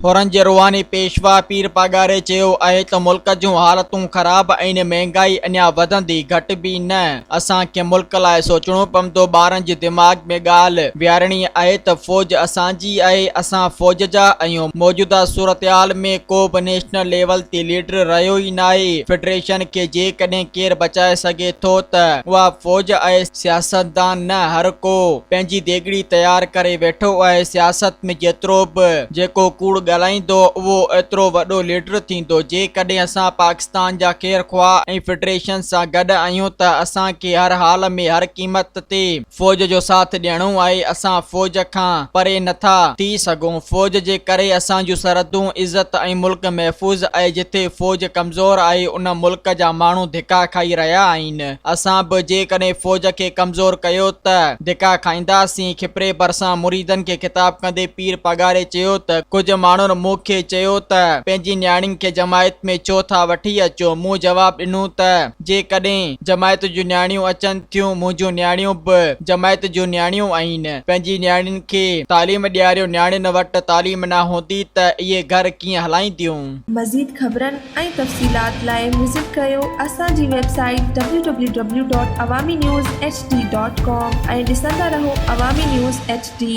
ڦرن جي روحاني پيشوا پير پاڳاري چيو آهي ته ملڪ جون حالتون خراب ۽ مهنگائي اڃا وڌندي گهٽبي نه اسان کي ملڪ لاء سوچڻو پوندو، ٻارن جي دماغ ۾ ڳالهه ويهارڻي آهي ته فوج اسان جي آهي، اسان فوج جا آهيون، موجوده صورتحال ۾ ڪو به نيشنل ليول تي ليڊر رهيو ئي ناهي، فيڊريشن کي جيڪڏهن ڪير بچائي سگهي ٿو ته اها فوج آهي، سياستدان نه هر ڪو پنهنجي ديڳڙي تيار ڪري ويٺو آهي، سياست ۾ جيترو به جيڪو ڪوڙ ڳالهائيندو اهو ايترو وڏو ليڊر ٿيندو، جيڪڏهن اسان پاڪستان. پاڪستان جا خير خواهه ۽ فيڊريشن سان گڏ آهيون ته اسان کي هر حال ۾ هر قيمت تي فوج جو ساٿ ڏيڻو آهي اسان فوج کان پري نه ٿا ٿي سگهون فوج جي ڪري اسان جون سرحدون عزت ۽ ملڪ محفوظ اهي جتي فوج ڪمزور آهي ان ملڪ جا ماڻهو ڌڪا کائي رهيا آهن اسان به جيڪڏهن فوج کي ڪمزور ڪيو ته ڌڪا کائينداسين کپري ڀرسان مريدن کي خطاب ڪندي پير پگهاري چيو ته ڪجهه ماڻهن مون کي چيو ته پنهنجي نياڻين کي جماعت ۾ ڇو ٿا وٺي اچو؟ مون جواب ڏنو ته جيڪڏهن جماعت جون نياڻيون اچن ٿيون منهنجون نياڻيون به جماعت جون نياڻيون آهن پنهنجي نياڻين کي تعليم ڏياريو نياڻين وٽ تعليم نه هوندي ته اهي گهر ڪيئن هلائينديون؟ مزيد خبرن ۽ تفصيلات لاء وزٽ ڪريو اسان جي website W W W dot Awami news H D dot com ۽ ڏسندا رهو عوامي نيوز ايڇ ڊي.